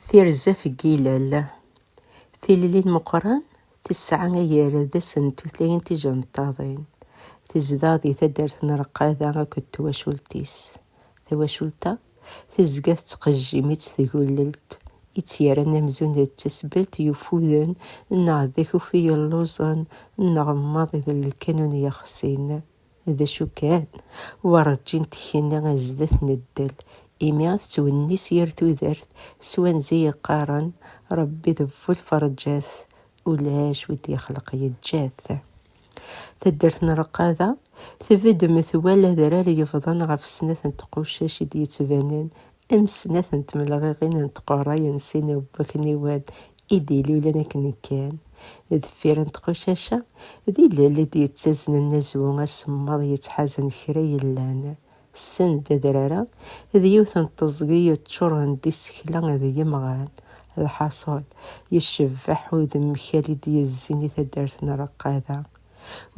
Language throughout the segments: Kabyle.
Tirza ɣef yilel, Tilelli n Meqqran tesɛa agerdes n tutlayin tijenṭaḍin, tezdeɣ di taddart n Reqqada akked twacult-is. Tawacult-a tezga tettqejjim-itt tgulelt i tt-yerran amzun d tasbelt yufuden neɣ d akufi yelluẓen neɣ maḍi d lkanun yexsin. D acu kan, werǧin tekni zdat n ddel, imi tettwennis yir tudert s wanzi yeqqaren, Rebbi d bu lferǧat, ulac wi d-yexleq yeǧǧa-t. Taddart n Reqqada tbedd metwal adrar yebḍan ɣef snat n tqucac i d-yettbanen am snat n tmelɣiɣin n tqurray n sin n wakniwen i d-ilulen akken kan deffir n tqucac-a, d ilel i d-yettaznen azwu asemmaḍ yettḥazen kra yellan send adrar-a d yiwet n teẓgi yeččuren d isekla d yemɣan. Lḥaṣul, yecbeḥ udemkal i d-yezzin i taddart n Reqqada.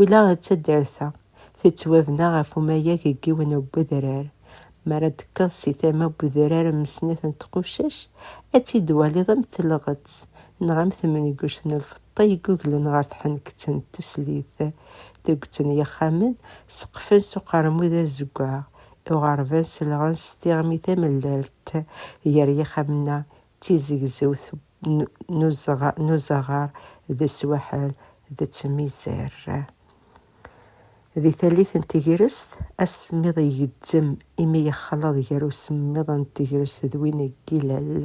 Ula d taddart-a, Tettwabna ɣef umayeg n yiwen n wedrar. Mi ara d-tekkeḍ si tama n wedrar n snat n tqucac, ad tt-id-twaliḍ am telɣett neɣ am temnguct n lfeṭṭa yegguglen ɣer tḥenkett n tuslit. Tuget n yixxamen seqfen s uqermud azeggaɣ, iɣerban selɣen s tiɣmi tamellalt gar yixxamen-a d tizegzewt n uzaɣar d swaḥel d tmizar. Di tallit n tegrest, asemmiḍ igezzem imi yexleḍ gar usemmiḍ n tegrest d win n yilel.